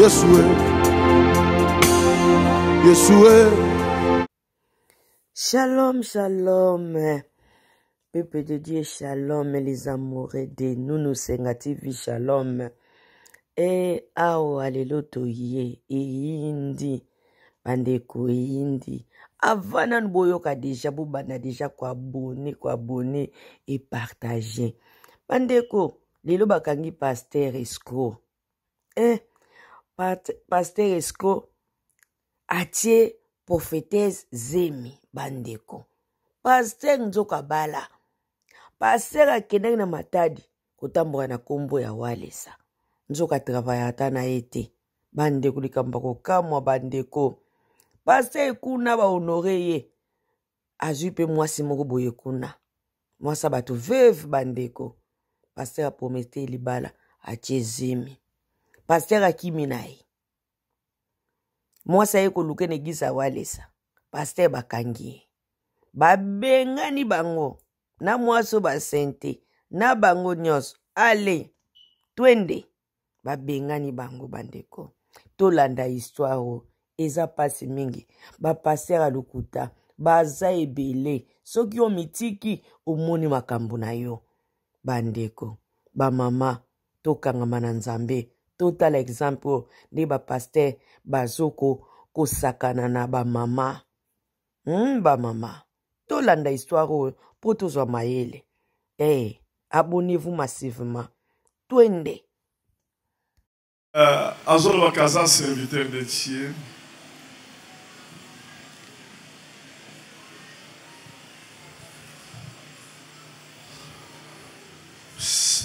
Yesue, Yesue. Shalom, shalom. Peuple de Dieu, shalom, les amoureux de nous, nous senga TV, shalom. E awa lelo toye eyindi bandeko eyindi avant nanu boyoka deja bobanda deja koabone koabone epartage bandeko lelo bakangi paster escro eh, paster escro atie prophetese zemi bandeko paster nzoka bala paster akendaki na matadi kotambola na nkombo ya walesa nzoka travaya ata na ye te bandeko likambo ya kokamwa bandeko paster ekuna bahonore ye azwi mpe mwasi moko boye kuna mwasi ya bato veuve bandeko paster apromete libala atie zemi paster akimi na ye mwasi aye koluka na eglise ya walesa paster bakangi ye babengani bango na mwasi oyo basente na bango nyonso ale twende babengani bango bandeko tolanda histoire oyo eza mpasi mingi bapaster ya lokuta baza ebele soki omitiki omoni makambo na yo bandeko bamama tokangama na nzambe totala exemple oyo nde bapaster bazoko kosakana na bamama hmm, bamama tolanda histoire oyo mpo tozwa mayele hey, eh, abonnez-vous massivement twende uh, azolobaka aza serviteur de dieu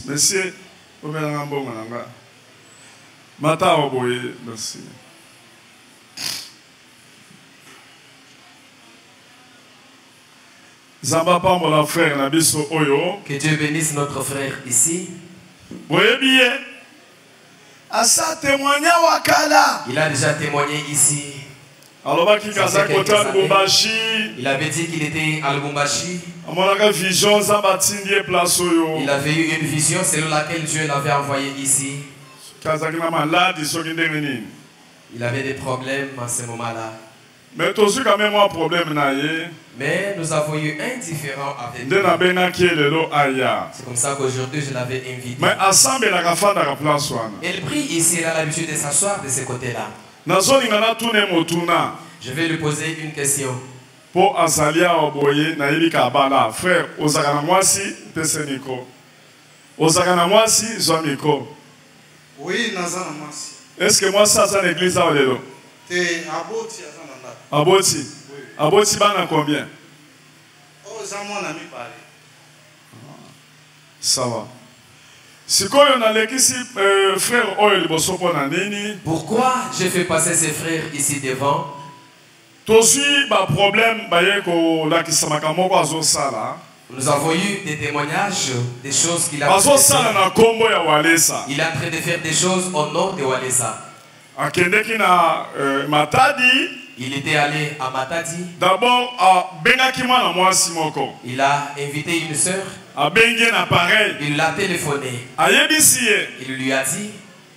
monsieur omelanga mbongo na nga matawa boye merci Nzambe apambola frère na biso oyo. Que Dieu bénisse notre frère ici. Boyebi ye. Asa témoigna wakala. Il a déjà témoigné ici. alobaki kazaki kota lubumbashi il avait dit qu'il était à lubumbashi amonaka vision nzambe atindi ye place oyo il avait eu une vision selon laquelle dieu l'avait envoyé ici kazaki na maladi soki ndenge nini il avait des problèmes à ce moment là Mais tozwi quand même mwa problème na ye. Mais nous avons eu un différent avec Nde nabengaki ye lelo aya. C'est comme ça qu'aujourd'hui je l'avais invité. Mais asambelaka afandaka place wana. Il prie ici, il a l'habitude de s'asseoir de ce côté-là. Nazolinga natuna ye motuna. Je vais lui poser une question. mpo azali awa boye nayebi ka abala frère ozalaka na mwasi pese miko ozalaka na mwasi zwa miko Oui, naza na mwasi. Est-ce que mwasi aza na église awa lelo? Te, aboti aza na ndako. Aboti? Oui. Aboti bana combien? Oh, za mwana mibale. Sawa. Sikoyo nalekisi euh, frère oyo liboso mpo na nini? Pourquoi je fais passer ces frères ici devant? Tozui ba problème baye kolakisa makambo moko azosala. Nous avons eu des témoignages des choses qu'il a fait. Azosala na kombo ya Walesa. Il est en train de faire des choses au nom de Walesa. Akendeki na euh, Matadi. Il était allé à Matadi. D'abord, abengaki mwana mwasi moko. Il a invité une sœur. Abengi na pareil. Il l'a téléphoné. Ayebisi ye. Il lui a dit.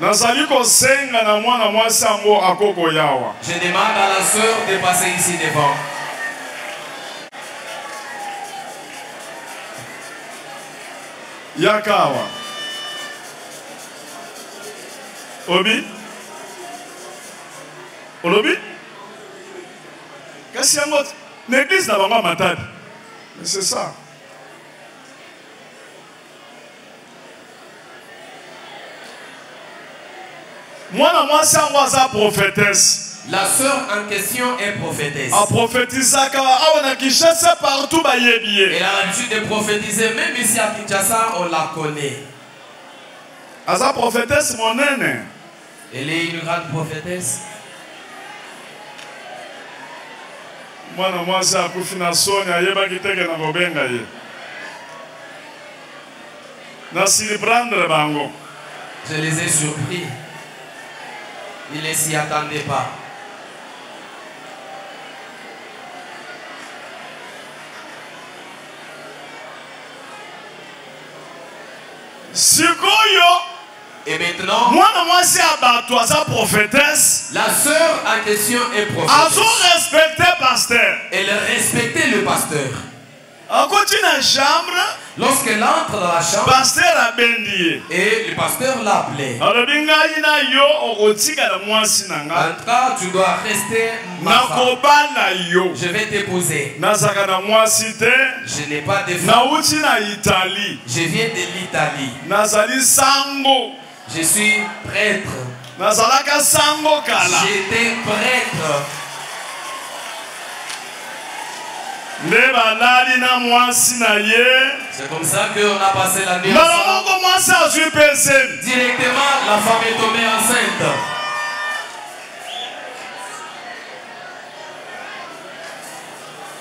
Nazali kosenga na mwana mwasi yango ako koya awa. Je demande à la sœur de passer ici devant. Yaka awa. Obi? Olobi? Kasi yango na église na bango ya Matadi. Mais c'est ça. mwana mwasi yango aza prophetesse La sœur en question est prophétesse. A prophétisaka awa na Kinshasa partout bayebi ye. Elle a l'habitude de prophétiser même ici à Kinshasa on la connaît. Aza prophétesse monene. Elle est une grande prophétesse. mwana mwasi akufi na soni ayebaki teke na kobenga ye na surprendre bango je les ai surpris il ne s'y attendait pas sikoyo Et maintenant, mwana mwasi ya bato aza prophétesse. La sœur en question est prophétesse. Azo respecter pasteur. Elle respectait le pasteur. Akoti na chambre. Lorsqu'elle entre dans la chambre, pasteur abendi ye. Et le pasteur l'appelait. Alobi ngai na yo okotikala mwasi na ngai. En tout cas, tu dois rester ma femme. Nakobala yo. Je vais t'épouser. Nazaka na mwasi te. Je n'ai pas de femme. Nauti na Italie. Je viens de l'Italie. Nazali sango. Je suis prêtre. Nazalaka sango kala. J'étais prêtre. nde balali na mwasi na ye mbala moko mwasi azwi mpe zemi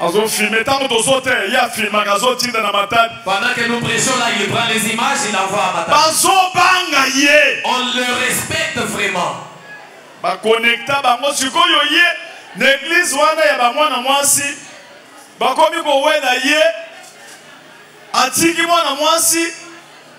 Azo filmer tango tozo te ye afilmaka azo tinda na matadi. Pendant que nous prêchons là, il prend les images, il envoie à Matadi. Bazo banga ye. On le respecte vraiment. Ba connecta bango sikoyo ye na église wana ya ba mwana mwasi bakomi kowela ye atiki mwana mwasi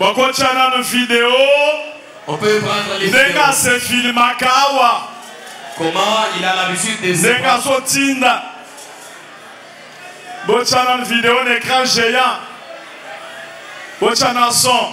Bakotia nanu video ndenge ase filmaka awa ndenge azotinda botia nanu video na écran géant botia na son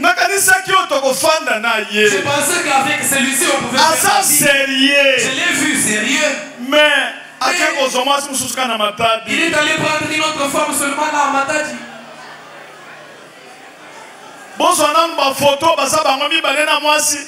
nakanisaki oyo tokofanda na ye aza serieux mais ake kozwa mwasi mosusu kaka na matadi bozwa nanu bafoto baza bango mibale na mwasi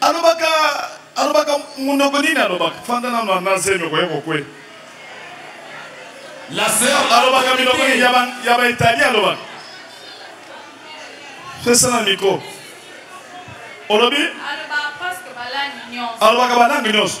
alobaka alobaka munoko nini alobaka fanda nano na zemi okoye kokwela la sœur alobaka minoko nini ya ba italien alobaka pesa na miko olobi alobaka balangi nyonso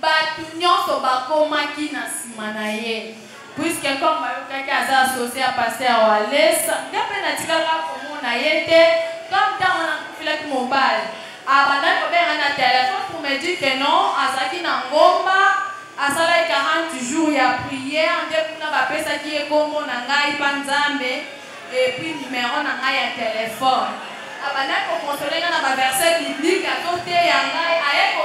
Batu nionso bakomaki na sima na ye puisque comme bayokaki aza associe ya pasteur Walesa, nga pe natikaka komona ye te comme tango wana nakufelaki mobali abandaki kobenga nga na telephone pour me dire que non azalaki na ngomba asalaki 40 jours ya prière nde kuna bapesaki ye kombo na ngai pa Nzambe et puis numero na ngai ya telephone abandaki ko consoler nga na ba verset biblique azoteya ngai aye ko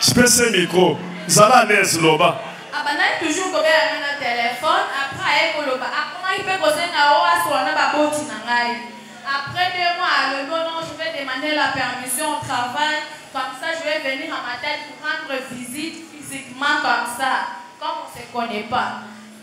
Je peux ce micro. Zala à l'aise, loba. Abandaki ah, toujours kobela ngai na telefone après aye koloba akomaki mpe kosenga o asola na baboti na ngai après deux mois alobi ono je vais demander la permission au travail comme ça je vais venir à ma tête pour rendre visite physiquement comme ça comme on se connaît pas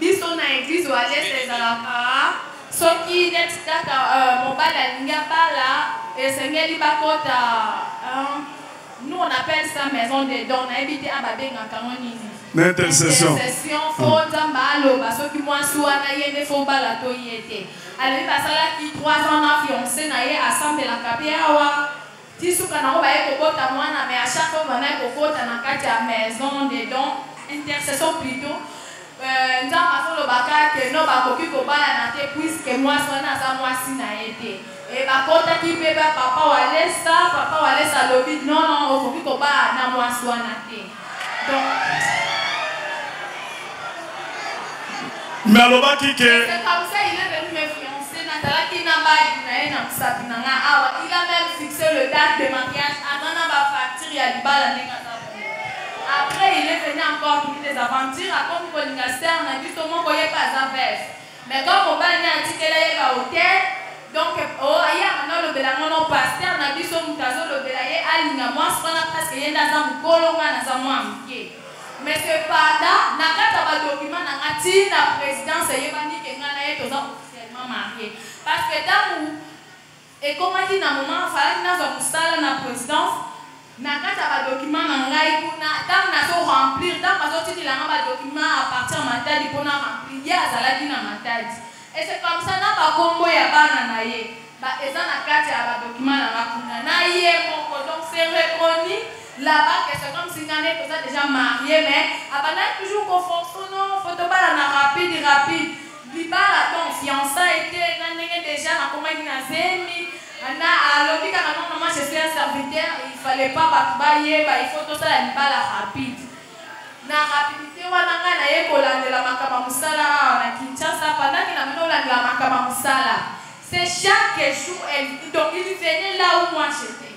Biso na eglise oalesa ezalaka soki neti kaka mobali alingi abala esengeli bakota nous on appelle ça maison de don nayebi te a babengaka ngo nini intercession fo ah. nzambe aloba soki mwasi wana ye nde fo bala to ye te alobi basalaki 3 ans na fiance na ye asambelaka mpe awa Ti suka nango baye kobota muana mais à chaque fois muana aye kokota na kati ya maison de don intercession plutot euh, nzambe azoloba ka que non bakoki kobalana te puisque mwasi wana aza mwasi na ye te e bakotaki mpe ba papa walesa papa walesa alobi non non okoki kobala na mwasi wana te mais alobaki ke nazalaki na mbali na ye na mosapi na ngai awa il a même fixé le date de mariage aza na bafacture ya libala ndenge aza après il est venu encore pour des aventures akomi kolinga star na biso moko ye mpe aza vese Mais comme mobali naye atikela ye ba hotel donc oh aye abandi alobela nga non pasteur na biso mutu azo lobela ye alinga muasi wana presque ye nde aza mukolo nga naza mua muke mais cependant na kati ya ba documents na nga ti na presidence eyebani ke nga naye toza officiellement marie parce que tangu Ekomaki na moment falaki nazwa musala na presidence, na kati ya ba documents na ngai kuna tango nazo remplir tango bazo tikela ngai ba documents à partir ya Matadi po na remplir ye azalaki na Matadi et c'est comme ça na ba kombo ya bana na ye ba eza na kati ya ba documents na ngai kuna na ye moko donc c'est reconnu là bas que c'est comme si ngai na ye toza dejà marier mais abandaki toujours ko forcer non faut tobalana rapide rapide Libala donc fiançailles te nga ndenge dejà nakomaki na zemi na alobi kaka non maman je suis un serviteur il fallait pas batu bayeba il faut tosala libala rapide na rapidite wana nga naye kolandela makambo ya mosala awa na Kinshasa pendant que na mino landela makambo ya mosala c'est chaque jour elle donc il venait là où moi j'étais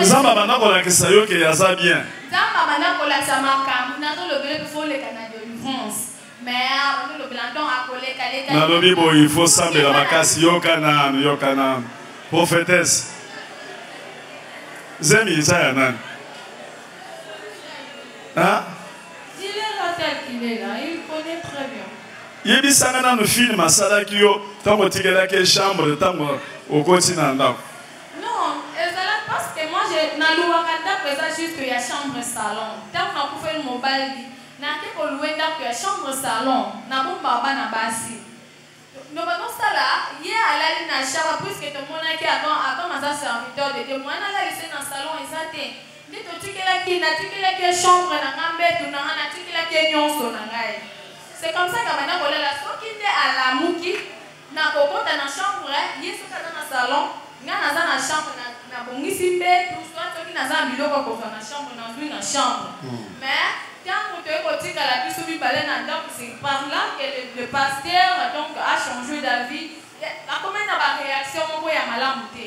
Nzambe abanda kolakisa yo ke aza bien. Nzambe abanda kolakisa makambo nazolobela mpe foleka na delivrance nalobi boye il faut sambela makasi yoka nanu yoka nanu prophétesse zemi eza ya nani yebisanga nanu filme asalaki yo ntango otikelaki chambre ntango okoti na ndako Non, ezalaki parce que moi je na louaka ndaku eza juste ya chambre salon. Tangu na kufeli mobali, na ke ko loue ndaku ya chambre salon, na bomba bana basi. Donc bazo sala ye alali na chambre puisque to monaki a comme a comme aza serviteur de Dieu, moyen na lalisa ye na salon eza te. Nde to tikelaki, na tikelaki ye chambre na nga, mbetu na nga, na tikelaki ye nionso na ngai. C'est comme ça na banda ko lala soki nde alamuki. Nako kota na chambre ye soki aza na salon nga naza na chambre na na bongisi mbetu soit soki naza na biloko ya kozwa na chambre na zwi na chambre mais tango toye kotikala biso mibale na ndaku c'est par là que le, le pasteur donc a changer d'avis akomaki na ba reaction moko ya malamu te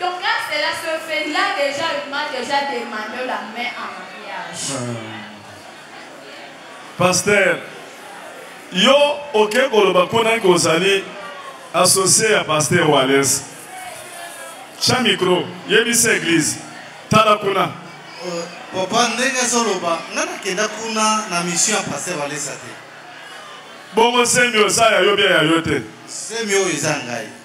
Donc quand cela se fait, il a déjà, il m'a déjà demandé la main en mariage. Ah. Pasteur, yo oke koloba mpo nani kozali associe ya pasteur Wallace. Tya micro, yebisa eglise. Tala kuna. Euh, papa ndenge azoloba nga nakenda kuna na mission ya pasteur Wallace te. Bongo semi osa ya yo bia ya yo te. Semi oyo eza ngai.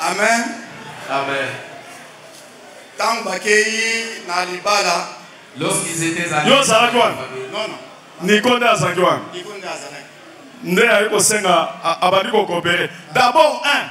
Amen. Amen. Tango bakei na libala. Lorsqu'ils étaient à Yo ozalaki wana? Non non. Nico nde azalaki wana. Nico nde azalaki. Nde aye kosenga abandi kokopere. D'abord un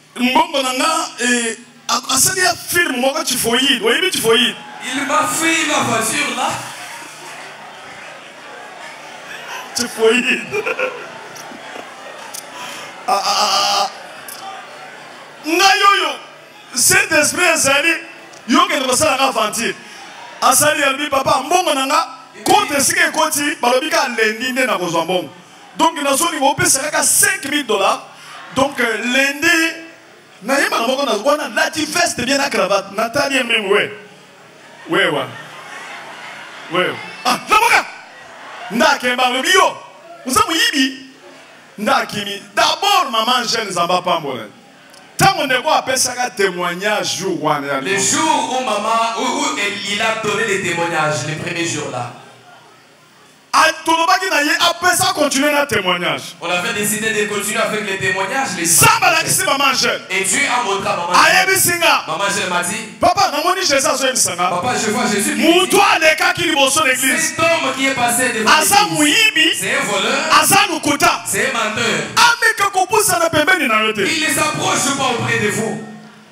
Mbongo na nga eh, asali ya film moko tifoyide oyebi tifoyide il m'a fait ma voiture là tifoyide ah, ah, ah, ngai oyo saint esprit ezali yokende kosalaka aventure asali yalobi papa mbongo na nga kote esika ekoti balobi ka lendi nde nakozwa mbongo donc nazolinga opesa kaka 5000 dollars donc euh, lende nayebaka moko na wana lati veste bien na cravate natali ye mbingu we we wa we ah lamuka ndakemba lobi yo oza moyibi ndakimi d'abord maman jeune zamba pambola ntango ndeko apesaka témoignage jour wana ya le jour où maman où, où il a donné le témoignage le premier jour là Ah, tolobaki na ye apesa continue na témoignage on avait décidé de continuer avec les témoignages les ça balakisi mama angèle et dieu a montré à maman ayebisi nga mama angèle m'a dit papa namoni jésus azoyebisa nga papa je vois jésus moto alekaki liboso na église cet homme qui est passé devant aza moyibi c'est un voleur aza lokuta c'est un menteur ameka kopusana pembeni na yo te il ne s'approche pas auprès de vous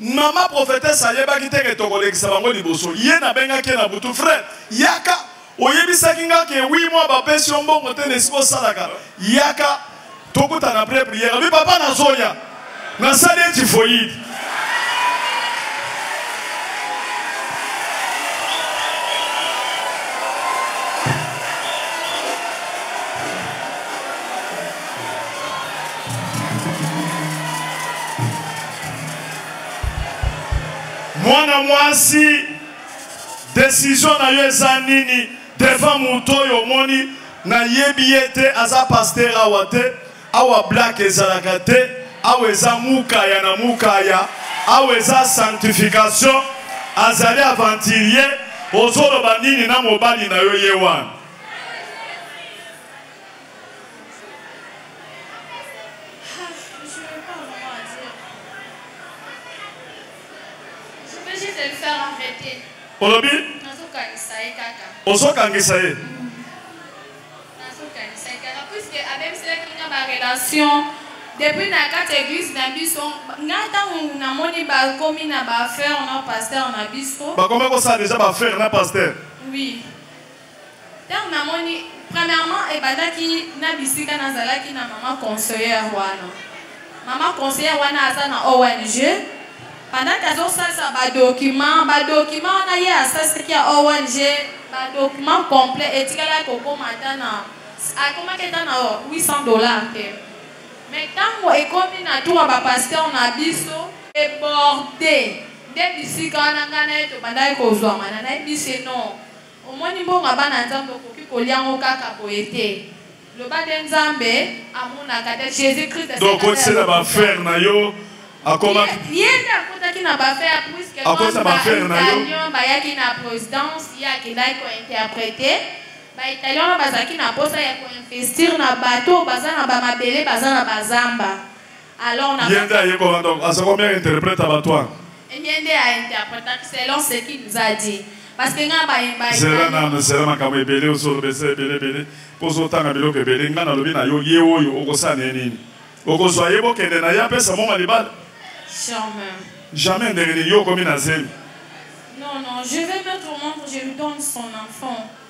Mama prophetesse ayebaki te ke tokolekisa bango liboso. Ye nabengaki ye na butu, frère, yaka oyebisaki nga ke oui moi bapesi yo mbongo te na esika osalaka. Yaka tokutana après prière. Abi papa nazoya. Nasali ye typhoïde. mwana mwasi desizio na yo eza nini devant moto oyo omoni nayebi ye te aza paster awa te awa blak ezalaka te awa eza mukaya na mukaya awa eza sanctification azali aventurier ozoloba nini na mobali na yo ye wana olobi ozokangisa ye relation depuis na kati église na biso nga ntango namoni bakomi na baaffaire na pasteur na biso bakoma kosala deja baaffaire na pasteur oui Tango na moni premièrement ebandaki na bisika na zalaki na maman conseillère wana. Maman conseillère wana aza na ONG pendant que azo salisa ba documents, ba documents wana ye asalisaki ya ONG ba documents complets etikala ko koma ata na akomaki ata na 800 dollars te. Mais tango ekomi na tour ba pasteur na biso eborde nde bisika wana nga na ye tobandaki kozwama na na yebisi ye non Omoni mbongo ya bana nzambe okoki kolia ngo kaka boye te loba nde nzambe amonaka te jesus christ donc kotisela ba frère na yo akoma ye nde akotaki na ba frère puisque akosa ba frère na yo bayaki na présidence ye akendaki ko interpréter ba italien wana bazalaki na posa ya ko investir na bato baza na ba mabele baza na bazamba Alors na Yende aye ko wanda aza ko mère interprète ba toi. Yende a interprète selon ce qu'il nous a dit. Parce que nga ba yemba. Zela na na zela makambo ebele osolo bese ebele ebele. Pozo tanga biloko ebele nga na lobi na yo ye oyo okosana nini. Okozwa ye bokende na ye apesa moma libala. Jamais. Jamais ndenge nini yo okomi na zemi. Non, non, je vais mettre au monde, je lui donne son enfant.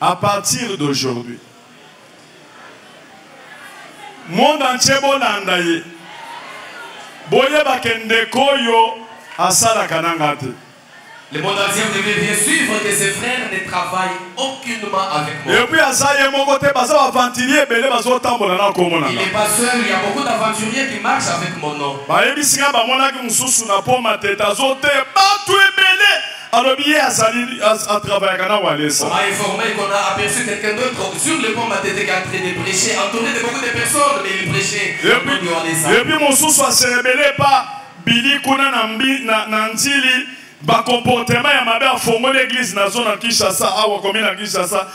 A partir d'aujourd'hui monde entier bolanda ye boyeba ke ndeko oyo asalaka na nga te Le monde entier vous devez bien suivre que ses frères ne travaillent aucunement avec moi. Et puis aza ye moko te baza aventurier ebele bazo tambola na kombo na. Il n'est pas seul, il y a beaucoup d'aventuriers qui marchent avec mon nom. Ba yebisi nga ba monaki mususu na poma te tazo te batu ebele alobi ye azali atravayaka na walesa m'a informé qu'on a aperçu quelqu'un d'autre sur le pont matete qui a train de prêcher entouré de beaucoup de personnes mais il prêchait epuis walesa epuis mosusu aserebele pa bili kuna na, mbi, na, na nzili bakomportema ya mabe afongoli eglize na zona kinshasa awa komi na kinshasa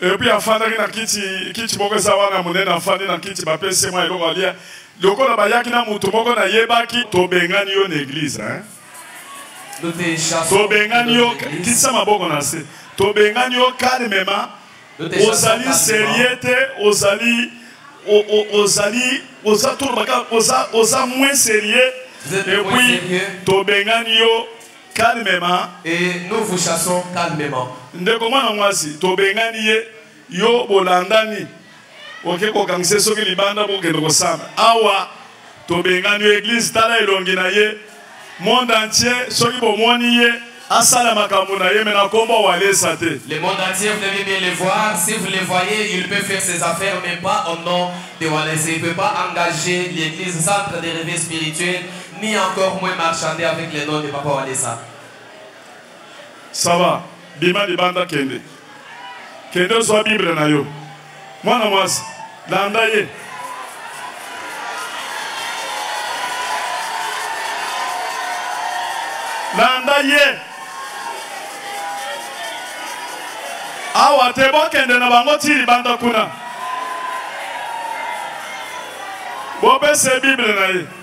epuis afandaki na kiti kiti moko eza wana monene afandi na kiti bapesi mwa eloko alia lokola bayaki na moto moko nayebaki tobengani yo na eglize hein? tobengani yo kisa maboko na se tobengani yo calmement ozali serie te ozali ozali oza tolobaka oza moins serie epuis tobengani yo calmement et nous vous chassons calmement ndeko mwana mwasi tobengani ye yo bolandani oke kokangisa soki libanda bokende kosamba awa tobengani yo eglise tala elongi na ye monde entier soki bomoni ye asala makambo na ye me na kombo walesa te le monde entier vous devez bien le voir si vous le voyez il peut faire ses affaires mais pas au nom de walesa il peut pas engager l'église centre des rêves spirituels ni encore moins marchander avec le nom de Papa Walesa. Ça va, bima libanda kende. Kende ozwa Bible na yo. Mwana mwasi, landa ye. Landa ye. Awa te bokende na bango ti libanda kuna. Bopesa ye Bible na ye.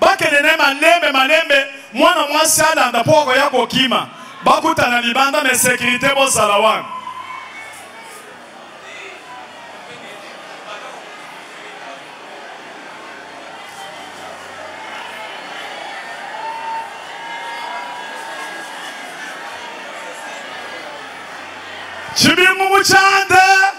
bakende na ye malembe malembe mwana mwasi alanda mpo akoya kokima bakutana libanda na sekirite bozala wana chibingu muchande